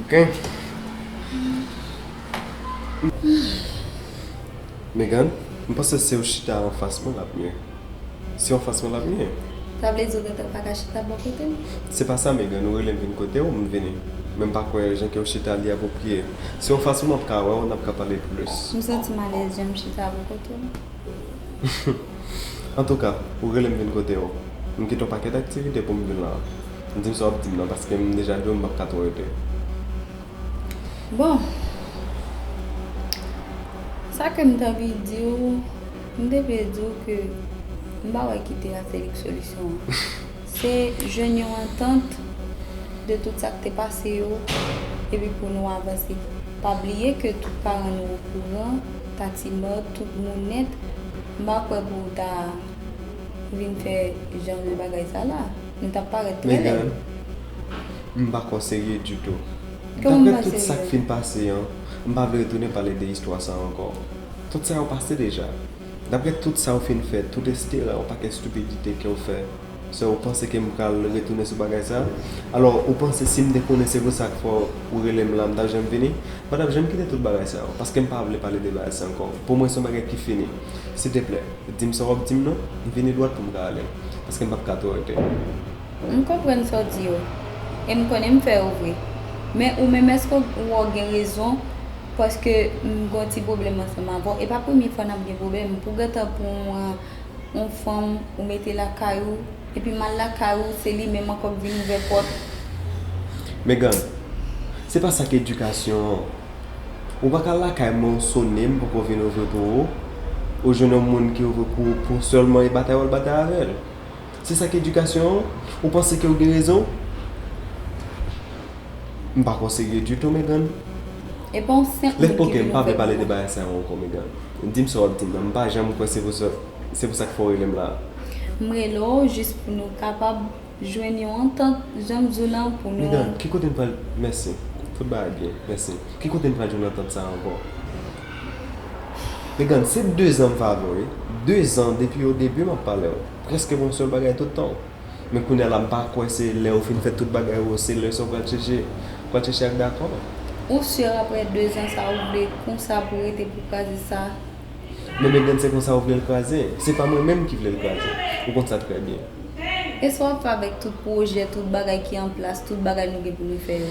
Ok Megan m panse siw chita anfas mwen lap mye Si anfas mwen lap mye Sa vle di ou gentan paka chita bò kotem? Se pa sa Megan ou relem vin kotew m vini Men m pa kwè jan kew chita li apwopriye Si w anfas mwen map ka wèw nap ka pale plis M santim alèz janm chita bò kotew. Antouka, ou rele m vin kote w. M kite yon pakèt aktivite pou m vin la a. Di m sa w ap di m nan paske m deja di w m pap ka twò rete. Bon, sa ke m te anvi di w, m te vle di w ke m pa wè ki te ase lik solisyon an. Se jwenn yon antant de tout sa k te pase yo epi pou nou avanse. Pa bliye ke tout paran nou okouran. Tati mòd tout moun nèt. M pa kwè pou w ta vin fè jan de bagay sa la. Nou t ap parèt trè lèd. Megan, M pa kwè w serye ditou. Kòman m pa serye? Daprè tout sa k fin pase an, m pa vle retounen pale de istwa sa ankò. Tout sa yo pase deja. Daprè tout sa ou fin fè, tout estera, yon pakèt stipidite ke w fè. Sè ou panse ke m pral retounen sou bagay sa? Alò, ou panse si m te konnen se pou sa k fè ou rele m la, m t ap janm vini? M pa t ap janm kite tout bagay sa yo, paske m pa vle pale de bagay sa ankò. Pou mwen se yon bagay ki fini. Silteplè, di m sa w ap di m non. M vini dwat pou m ka ale, paske m p ap ka twò rete. M konprann sa w di yo, e m konnen m fè yo vre. Men ou menm èske ou wè w gen rezon paske m gen yon ti pwoblèm ansanm avè w? E pa premye fwa n ap gen pwoblèm pou gentan pou w. yon fanm ou mete lakay ou epi mal lakay ou se li menm ankò k vin ouvè pòt. Megan, Se pa sa k edikasyon an. Ou pa ka al lakay mwen ou sone m poko vin ouvri pou ou, ou jwenn yon moun ki ouvri pou ou pou sèlman e batay w al batay avè l. Se sa ki edikasyon an? Ou panse ke ou gen rezon? M pa ko serye ditou Megan. E pa w senp moun ki vin ouvè bouch ou? Di m sa w ap di m nan. M pa janm kwè se pou sa se pou sa k fè w rele m la a. M rele w jis pou nou kapab jwenn yon antant jan m di w lan pou nou. Megan, ki kote n pral mèsi. Tout bagay byen. Mèsi. Ki kote n pral jwenn antant sa a ankò? Megan, se dezan m fè avè w wi. Dezan depi odebi m ap pale w. Preske bon sèl bagay tout tan. Men kounya la m pa kwè se lè ou fin fè tout bagay ou se lè sa ou pral chèche pral chèche ak dakò. Ou sur aprè 2 zan sa ou vle konsa pou rete pou kraze sa? Men Megan se konsa ou vle l kraze? Se pa mwen menm ki vle l kraze. Ou konn sa trè byen. E sa wap fè avèk tout pwojè, tout bagay ki an plas, tout bagay nou gen pou nou fè yo?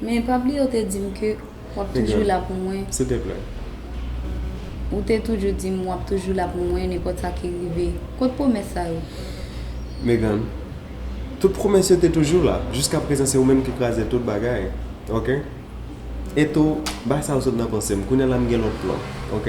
Men pa bliye ou te dim ke wap toujou la pou mwen. Silteplè. Ou te toujou dim wap toujou la pou mwen nenpòt sa ki rive. Kot pwomès sa yo? Megan, tout pwomès yo te toujou la. Jiska prezan se ou menm ki kraze tout bagay. Ok? E tou, bay sa yo sot nan panse m. Kounya la m gen lòt plan. Ok?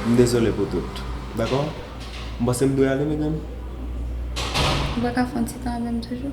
M dezole pou tout. Dakò? M panse m dwe ale Megan? Ou pa ka fè yon ti tan avè m toujou?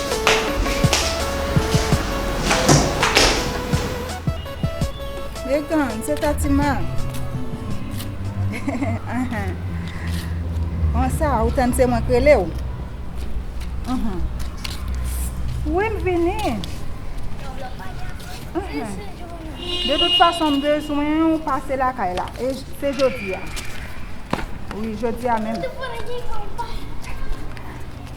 Etan, se ta ti ma. An sa, ou tann se mwen k rele w? Wi, m vini. De tout fason, m bezwen ou pase lakay la. E se jodi a. Wi, jodi a menm.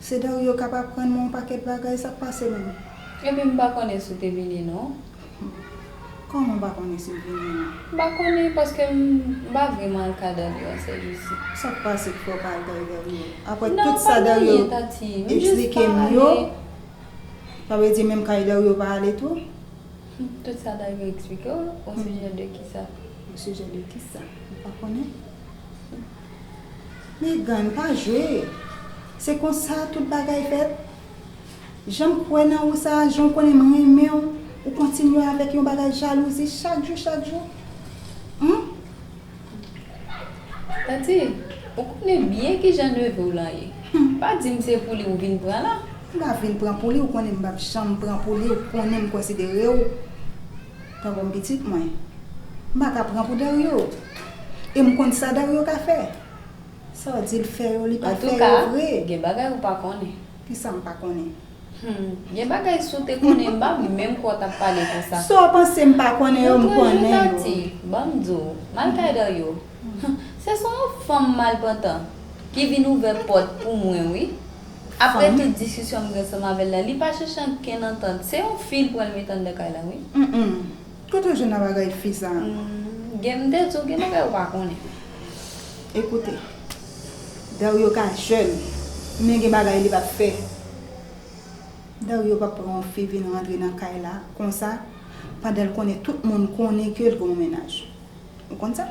Sedario kap aprann mwen yon pakèt bagay, sak pase menm? Epi m pa konnen si w te vini non. Kòman w pa konnen si m vini non? M pa konnen paske m pa vreman al ka Dario an sèl jezi. Sak pase ki fè w pa al kay Dario? Aprè tout sa Dario esplike m yo, sa vle di menm kay Dario w pa ale tou? Tout sa Dario esplike w osijè de kisa? Osijè de kisa? M pa konnen. Megan, pa jwe! Se konsa tout bagay fèt? Jan m kwè nan ou sa a, jan w konnen m renmen w, ou kontinye avèk yon bagay jalouzi chak jou chak jou? Humm! Tati, ou konnen byen ki jan neve w lan ye. Pa di m se pou li ou vin pran la! M pa vin pran pou li, ou konnen m p ap janm pran pou li, ou konnen m konsidere w. Tanbonm pitit mwen. M pa ka pran pou Dario. E m konn sa Dario ka fè. Sa w di l fè yo, li pa fè yo vre. Antouka, gen bagay ou pa konnen. Kisa m pa konnen? Hum, gen bagay si w te konnen m pa menm kwè w t ap pale konsa. Sa w panse m pa konnen yo, m konnen yo. Montre jou Tati, ban m di w. Mal kay Dario. Se son yon fanm malpantan ki vin ouvè pòt pou mwen wi. Aprè tout diskisyon m gen ansanm avè l la, li pa chèche ankenn antant. Se yon fi l pral met anndan kay la wi. Humm. Kote w jwenn abagay fi sa a? Gen m te di w gen bagay ou pa konnen. Ekoute. Dario ka jèn, men gen bagay li pa p fè. Dario pa p pran yon fi vin rantre nan kay la konsa pandan l konnen tout moun konnen ke l gen yon mennaj. Ou konn sa?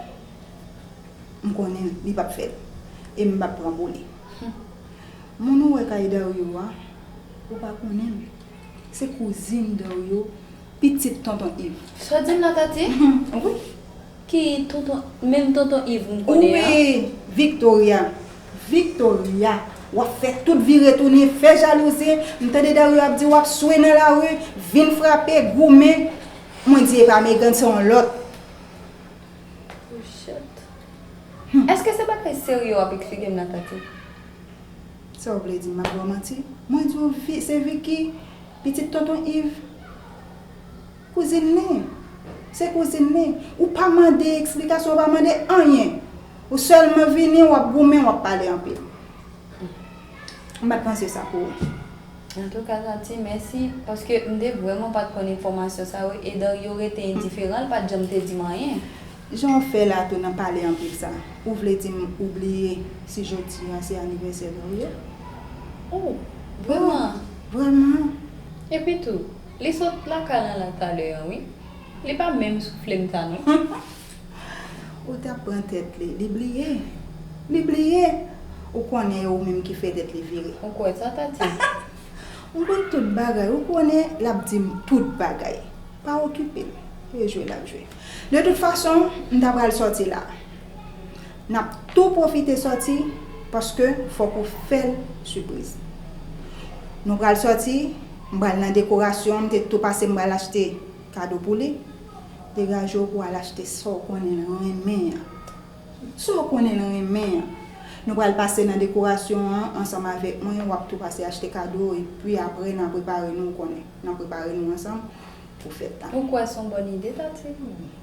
M konnen l, li pap fè l. E m pap pran pou li. Moun ou wè kay Dario a, ou pa konnen l. Se kouzin Dario, pitit Tonton Iv. Sa w di m la Tatie? Wi. Ki Tonton, menm Tonton Iv m konnen an? Wi, Victoria. Victoria, w ap fè tout vire tounen, fè jalouzi. M tande Dario ap di w ap swe nan lari, vin frape, goumen. Mwen di e pa Megan, se yon lòt. Pouchèt. Eske se bagay serye wap eksplike m la Tati? Sa w vle di m ap baw manti? Mwen di w se Vicky, pitit tonton Iv. Kouzin li. Se kouzin li. Ou pa mande eksplikasyon, ou pa mande anyen. Ou sèlman vini, wap goumen, wap pale anpil. M pat panse sa pou ou. Antouka Tati mèsi paske m te vrèman pat konn enfòmasyon sa yo e Dario rete endiferan l pat janm te di m anyen. Jan w fè la tou nan pale anpil sa ou vle di m ou bliye si jodi an se anivèsè Dario? Oh vrèman? Vrèman. Epitou li sot lakay Lala talè an wi li pa menm soufle m ta non. Ou tap pran tèt li. Li bliye. Li bliye. Ou konnen e ou menm ki fè tèt li vire. Ou kwè sa Tati? Mwen konn tout bagay. Ou konnen lap dim tout bagay. Pa okipe l. E jwe lap jwe. De tout fason, m ta pral sòti la. Nap tou pwofite sòti paske fòk ou fè l sipriz. Nou pral sòti, m pral nan dekorasyon, m te tou pase m pral achte kado pou li. Degaje w pou al achte sa w konnen l renmen an. Sa w konnen l renmen an. Nou pral pase nan dekorasyon an ansanm avèk mwen, w ap tou pase achte kado w epi aprè nan prepare nou w konnen. Nan prepare nou ansanm pou fèt la. Ou kwè s on bòn ide Tati?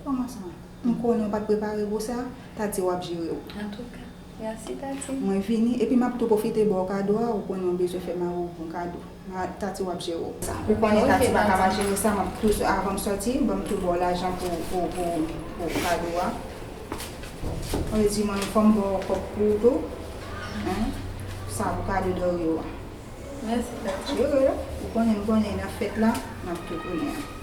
Kòman sa? M konnen w pa t prepare pou sa? Tati w ap jere w. Antouka, mèsi Tati. Mwen vini, epi m ap tou pwofite ba w kado a, ou konnen w bezwen fè mari w bon kado. Ma tati wap jere sa. Ou konnen tati paka pa jere sa map tou avanm sòti banm tou baw lajan pou pou kado a ok di mwen fòm baw kòb pouw tou hein sa pou kado Dario a. Merci tati. Jere ou konnen m konnen nan fèt la map tou konnen.